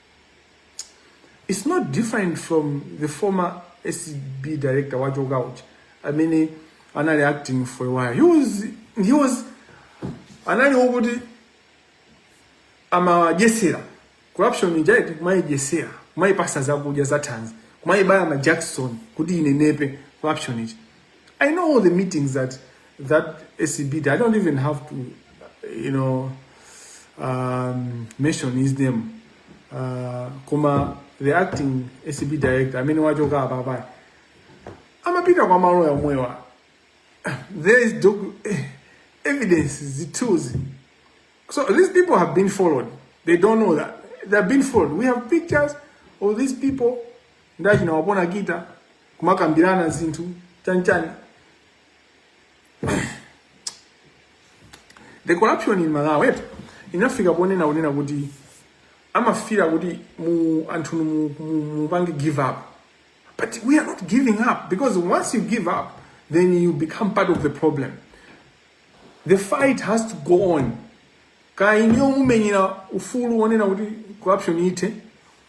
It's not different from the former ACB director wachoka uja amene anali acting for a while. He was he was anali wokuti amadyesera corruption ija eti kumayidyesera kumayipasa zakudya za thanzi kumayibaya majakisoni kuti inenepe corruption ija I know all the meetings that that ACB did. I don't even have to, you know, um, mention his name. Uh, koma the acting ACB director amene wachoka apapayi amapita kwa maloya omwewa there is docu eh, evidence zithunzi so these people have been followed they don't know that they have been followed we have pictures of these people ndachina wapona kita kumakambirana zinthu chanchani the corruption in malawi eti inafika ponena kunena kuti amafira kuti mu anthunu mu- mu- mupange give up but we are not giving up because once you give up then you become part of the problem the fight has to go on kaya ine omumenyera ufulu wonena kuti corruption ithe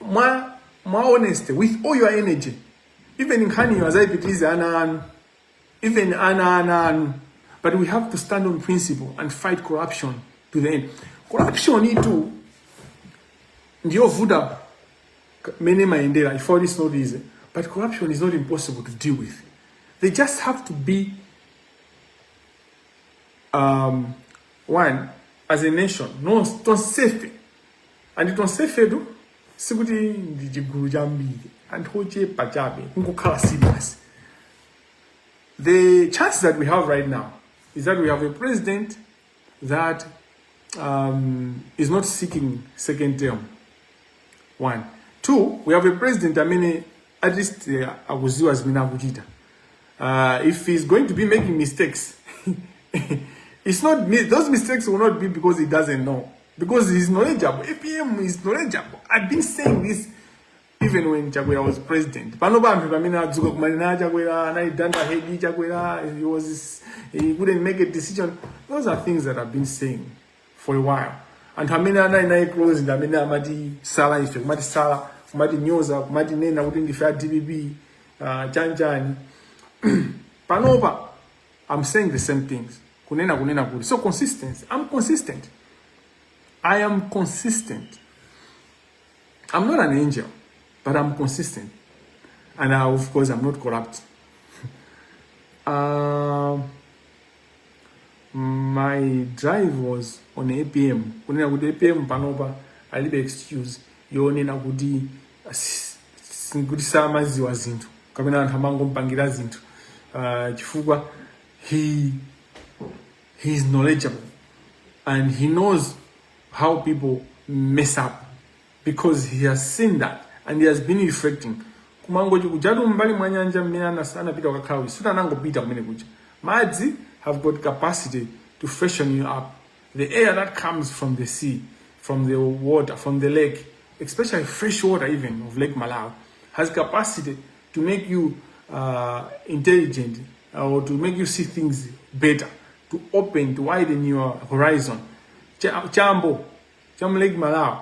mwa mwa honesty with all your energy even nkhaniyo azayipitirize ana anu even ana ana anu but we have to stand on principle and fight corruption to the end corruption itu ndiyovuta mene mayendera if all is not easy but corruption is not impossible to deal with they just have to be um, one as a nation not tonsefe and tonsefetu sikuti ndi chigulu chambiri anthu ochepa chabe kungokhala serious the chance that we have right now is that we have a president that um, is not seeking second term one two we have a president amene at least uh, akuziwa zimene akuchita uh, if he's going to be making mistakes it's not those mistakes will not be because he doesn't know because he's knowledgeable apm is knowledgeable i've been saying this even when chakwera was president pano pambi pamene adzuka kumanena chakwera anaidanda hedi chakwera he was he couldn't make a decision those are things that i've been saying for a while anthu amene anali naye close ndi amene amatisala ife kumatisala kumatinyoza kumatinena kuti ndife a dpp uh, chanichani panopa i'm saying the same things kunena kunena kuti so consistent i'm consistent i am consistent i'm not an angel but i'm consistent and I, of course i'm not corrupt um, my drive was on apm kunena kuti apm panopa alibe excuse yonena kuti "Asi- si- kuti samadziwa zinthu kapena anthu amangomupangira zinthu Ah, chifukwa he he is knowledgeable and he knows how people mess up because he has seen that and he has been reflecting kumangochi kujatu mbali mwa nyanja mmene anas anapita kukakhala uyu sikuti anangopita kumene kuja madzi have got capacity to freshen you up the air that comes from the sea from the water from the lake especially fresh water even of lake malawi has capacity to make you uh, intelligent uh, or to make you see things better to open to widen your horizon Cha- chambo Chambo cha Lake Malawi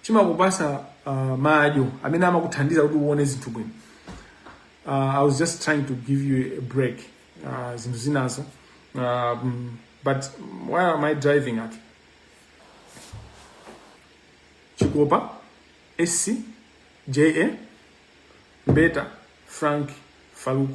chimakupasa uh, maso amene amakuthandiza kuti uone zinthu bwino. Uh, I was just trying to give you a break uh, zinthu zinazo um, but where am I driving at? Chikopa, SC, JA, Mbeta, Frank, Farouk.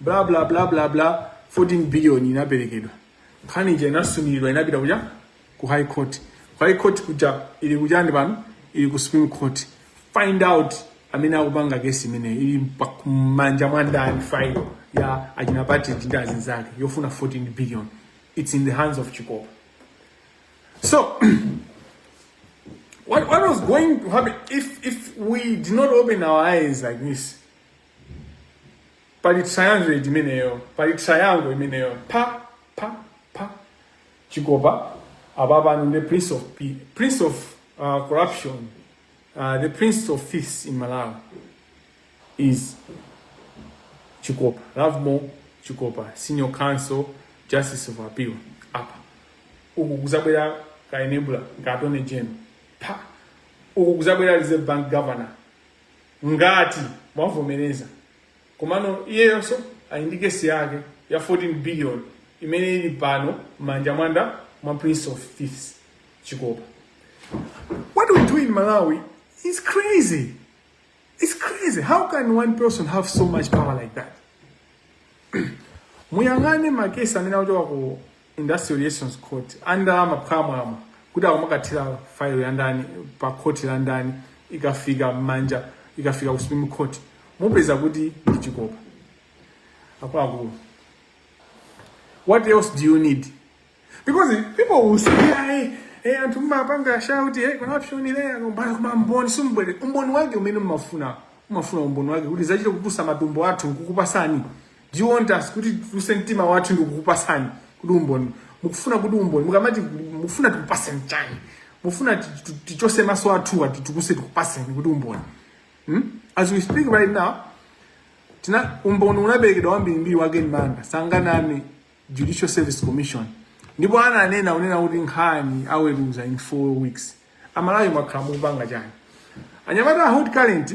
bla bla bla bla bla 14 billion inaperekedwa nkhani ija inasumiridwa inapita kuja ku high court ku high court kuja ili kujani pano ili ku supreme court find out amene akupanga kesi imeneyi ili mpa- m'manja mwandani file ya achina partridge ndi anzake yofuna 14 billion it's in the hands of chikopa so what, what was going to happen if, if we did not open our eyes like this pali triangle imeneyo pali triangle imeneyo pa pa pa chikopa ababa anu the prince of P, prince of uh, corruption uh, the prince of thieves in malawi is chikopa lovemore chikopa senior counsel justice of appeal apa uku kuzabwera ka enabler ka attorney general apa uku kuzabwera reserve bank governor ngati mwavomereza komano iyeyonso ali ndi kesi yake ya 14 billion imene ili pano m'manja mwandani mwa prince of thieves chikopa what we do in malawi is crazy it's crazy how can one person have so much power like that muyang'ane makesi amene akuchoka ku Industrial Relations Court a ndalama phwamwamwa kuti akumakathira file ya ndani pa khoti la ndani ikafika m'manja ikafika ku Supreme Court mupeza kuti ndi Chikopa akuluakulu what else do you need because people will say hey, hey anthu mumapanga shout hey, corruption ile akombana koma umboni simubweretsa umboni wake umene mmafuna mmafuna umboni wake kuti tizachite kutusa matumbo athu nkukupasani Do you want us kuti tuse mtima wathu ndikukupasani kuti umboni mukufuna kuti umboni mukamati mukufuna tikupaseni chani mufuna ti- ti- tichotse maso athu ati tikuse tikupaseni kuti umboni hmm? as we speak right now tina umboni unaperekedwa wambirimbiri wa Ken Manda sanganame Judicial Service Commission ndipo ananena unena kuti nkhani aweruza in four weeks aMalawi mwakhala mukupanga chani anyamata a hot current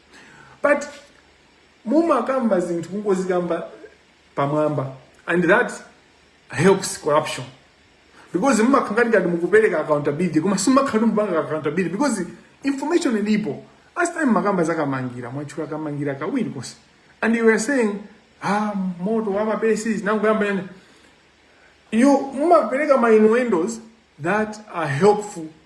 but mumakamba zinthu kungozikamba pamwamba and that helps corruption because mumakhala ngati mukupereka accountability koma simumakhala mukupanga accountability because information ilipo last time mumakamba za Kamangira mwatchula Kamangira kawiri konse and you were saying ah moto wa mapesi zinangoyamba yani you mumapereka ma innuendos that are helpful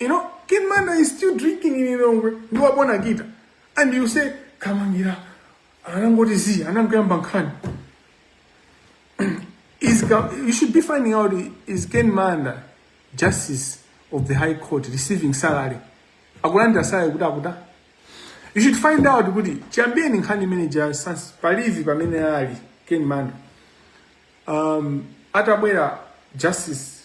You know, Ken Manda is still drinking in Lilongwe. You are born again. And you say, Kamangira, anangoti zi, anangoyamba nkhani. Is Ka- you should be finding out is Ken Manda justice of the High Court receiving salary? Akulandira salary kuti kuti. You should find out kuti chiyambireni nkhani imene ija sans palivi pamene ali Ken Manda. Um, atabwera justice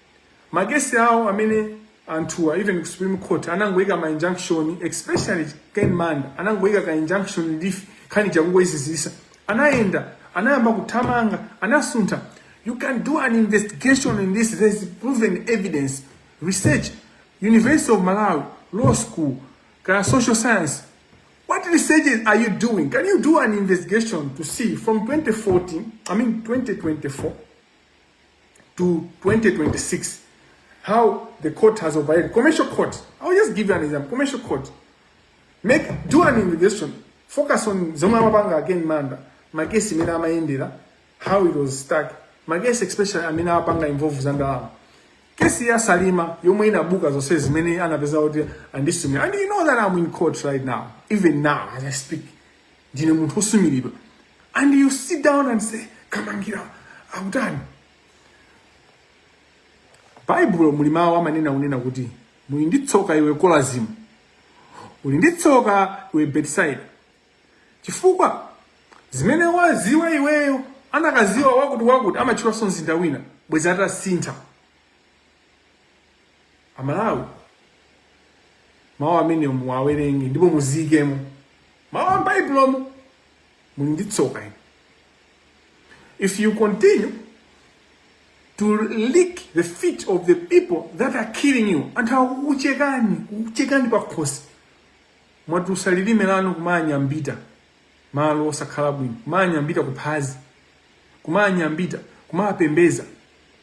makesi awo amene anthuwa even ku supreme court anangoyika ma injunction especially ken manda anangoyika ka injunction relief khani chakungoyizizisa anayenda anayamba kuthamanga anasuntha you can do an investigation in this there's proven evidence research university of malawi law school ka social science What researches are you doing? Can you do an investigation to see from 2014, I mean 2024, to 2026 how the court has operated commercial court i'll just give you an example commercial court make do an investigation focus on zomwe amapanga a Ken Manda makesi mmene amayendera how it was stuck makesi especially amene apanga involve za ndalama kesi ya Salima yomwe inabuka zonse zimene anapeza kuti andisumira and you know that i'm in court right now even now as i speak ndine munthu osumiridwa and you sit down and say Kamangira akutani Baibulo muli mawu amanena kunena kuti muli ndi tsoka iwe Kolazimu uli ndi tsoka iwe Betisaide chifukwa zimene waziwa iweyo anakaziwa wakuti wakuti amatchulanso mzinda wina bwezi atasintha amalawi mawu amene muwawerenge ndipo muziyikemo mawu a m'baibulomo muli ndi tsoka inu if you continue to lick the feet of the people that are killing you anthu akukuchekani pakhosi mwatusa lilime lanu kumanyambita malo osakhala bwino kumanyambita kuphazi kumanyambita kumapembeza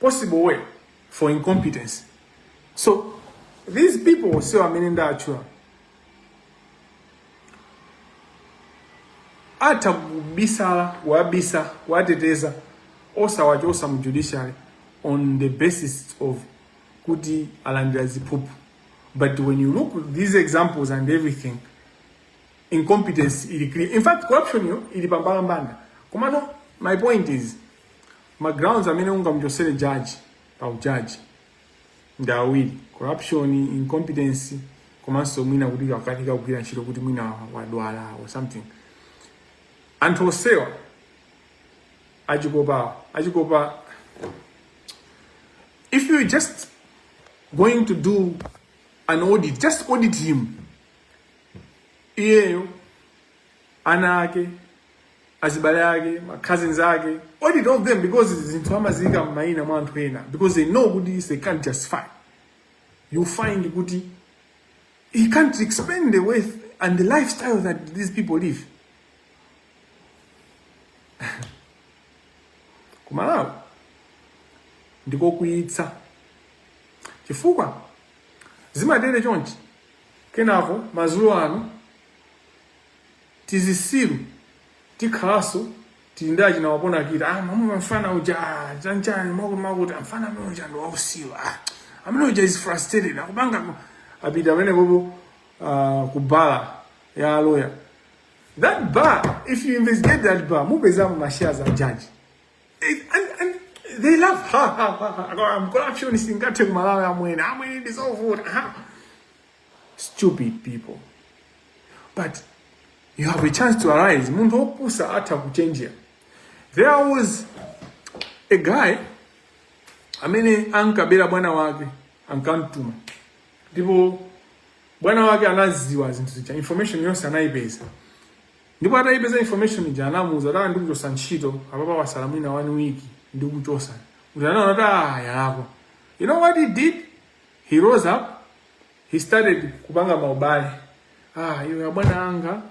possible way for incompetence so these people ose amene ndatchula atha kubisala kuwabisa kuwateteza osawachosa mu judiciary on the basis of kuti alandira ziphuphu but when you look at these examples and everything incompetence ili clear in fact corruption yo ili pambalambanda komano my point is ma grounds amene ungamuchosere judge pa ujaji ndi awiri corruption incompetence komanso mwina kuti akanika kugwira ntchito kuti mwina wadwala or something anthu osewa achikopa achikopa if you're just going to do an audit just audit him iyeyo ana ake azibale ake ma cousins ake audit all of them because zinthu amaziyika m'mayina mwa anthu ena because they know kuti they can't justify you find kuti he can't explain the wealth and the lifestyle that these people live kumalawi ndikokwiyitsa chifukwa zimatere chonchi kenako mazulo ano tizisiru tikhalaso tili ndi achina wapona kita ah mwamuona mfana uja ah chanchani makuti makuti amfana amene uja ndo wausiru ah amene uja is frustrated akupanga ku- apita amene popo uh, ku bala ya lawyer that bar if you investigate that bar mupezamo mashares a judge It- and, and they laugh ha ha ha ha Ako, I'm corruption singathe kumalawi amwene amwene ndizovuta ha stupid people but you have a chance to arise munthu opusa atha kuchenjera there was a guy amene ankabera bwana wake ankamtuma ndipo bwana wake anaziwa zinthu zija information yonse anayipeza ndipo atayipeza information ija anamuuza kuti ndikuchosa ntchito apapa wasala mwina one week ndikuchosa kuti anaona kuti ah yalakwa you know what he did He rose up, he started kupanga maubale. Ah, iwe abwana anga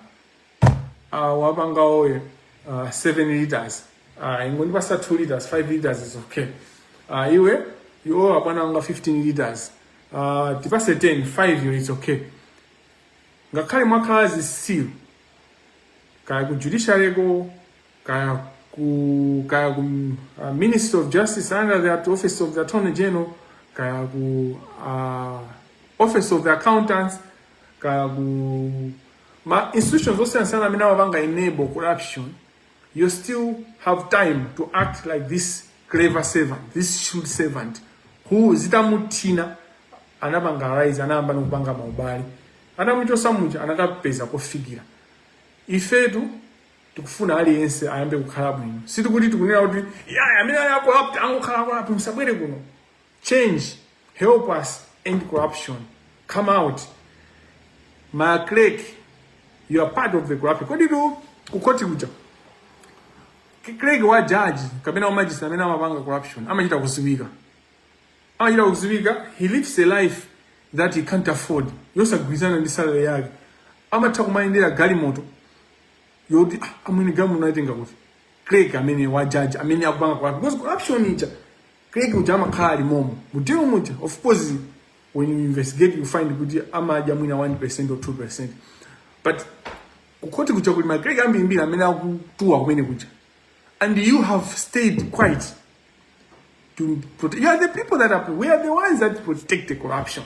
ah, wapanga oyo ah, 7 liters ah, ingondipatsa 2 liters 5 liters is okay ah, iwe iwo abwana anga 15 liters ah, tipatse 10 5 yo is okay ngakhale mwakhala zitsiru kaya ku judiciary ko kaya ku kaya ku uh, Ministry of Justice under the Office of the Attorney General kaya ku uh, Office of the Accountants kaya ku ma institutions osiyanasiyana amene amapanga enable corruption you still have time to act like this clever servant this shrewd servant who zitamuthina anapanga rise anayamba nokupanga maubale atamuchotsa muja anakapeza kofikira ifetu tikufuna aliyense ayambe kukhala bwino sitikuti tikunena kuti yaya amene ali acorrupt angokhala acorrupt musabwere kuno change help us end corruption come out ma clerk you are part of the corruption komatu kukhoti kuja clerk wa judge kapena wa magistrate amene amapanga corruption amachita kuziwika amachita kuziwika he lives a life that he can't afford yosagwirizana ndi salary yake amatha kumayendera galimoto yoti ah, amwene game unaitenga kuti clerk amene wa judge amene akupanga kwa because corruption ija clerk uja amakhala ali momo mutero muja of course when you investigate you find kuti amadya mwina 1% or 2% but kukhoti kuja kuli ma clerk ambirimbiri amene akutuwa kumenekuja and you have stayed quiet to protect you are the people that are we are the ones that protect the corruption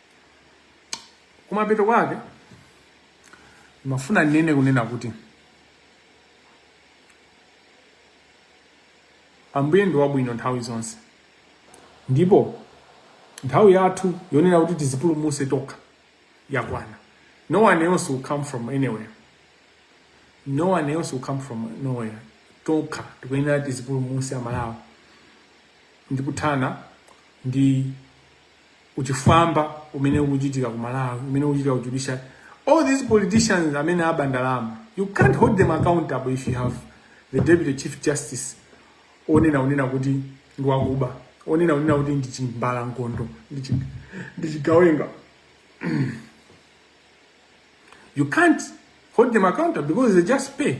kumapeto kwake ndimafuna nene kunena kuti ambuye ndi wabwino nthawi zonse ndipo nthawi yathu yonena kuti tidzipulumutse tokha yakwana no one else will come from anywhere no one else will come from nowhere tokha tikuyenera tidzipulumutse amalawi ndikuthana ndi uchifwamba umene ukuchitika ku Malawi umene ukuchitika ku judiciary all these politicians amene aba ndalama you can't hold them accountable if you have the deputy chief justice onena onena kuti ndi wakuba onena onena kuti ndi chimbalangondo ndi chi- ndi chigawenga you can't hold them accountable because they just pay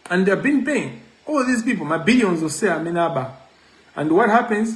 and they've been paying all these people ma billions onsewa amene aba and what happens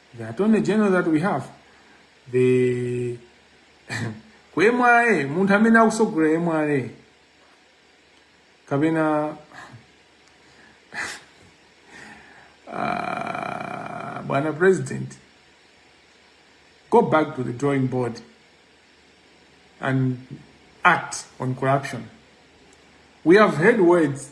the attorney general that we have the ku mra munthu amene akusogolera mra kapena uh, bwana president go back to the drawing board and act on corruption we have heard words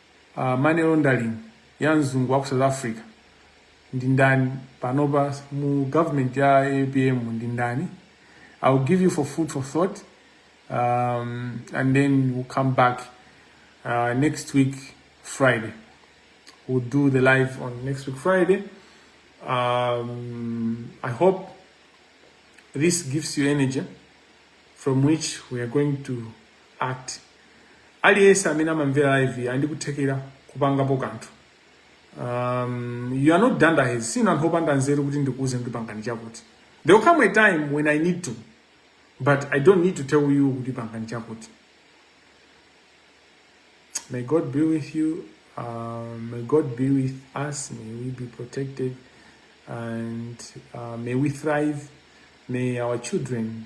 uh, money laundering ya mzungu wa ku south africa ndi ndani panopa mu government ya apm ndi ndani i will give you for food for thought um, and then we'll come back uh, next week friday we'll do the live on next week friday um, i hope this gives you energy from which we are going to act. Aliyense amene amamvera live ali ndi kuthekera kupangapo kanthu. Um, you are not dunderheads. Sinu anthu opanda nzeru kuti ndikuuze kuti pangani chakuti. There will come a time when I need to, but I don't need to tell you kuti pangani chakuti. May God be with you. Uh, may God be with us. May we be protected. And uh, may we thrive. May our children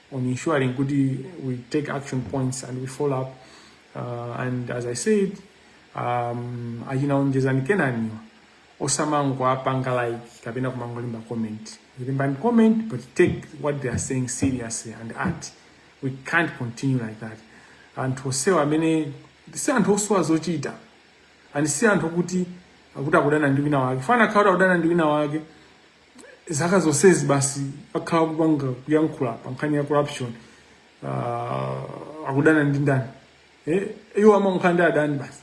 on ensuring kuti we take action points and we follow up uh, and as i said um, achina onjezani kenaniwa osamangopanga like kapena kumangolemba comment lembani comment but take what they are saying seriously and act we can't continue like that anthu amenewa si anthu osowa zochita and si anthu okuti akuchita kudana ndi wina wake ngati akanakhala kuti akudana ndi wina wake zaka zonsezi basi akhala kupanga kuyankhula pa nkhani ya corruption uh, akudana ndi ndani eh, iwo amakhala ndi adani basi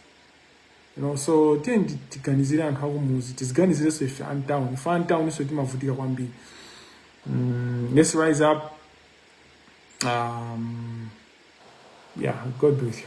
you know, so tiyeni ti- tiganizire anthu akumuzi tiziganizirenso ife a mtauni ife a mtauninso timavutika kwambiri mm, let's rise up um, yeah god bless you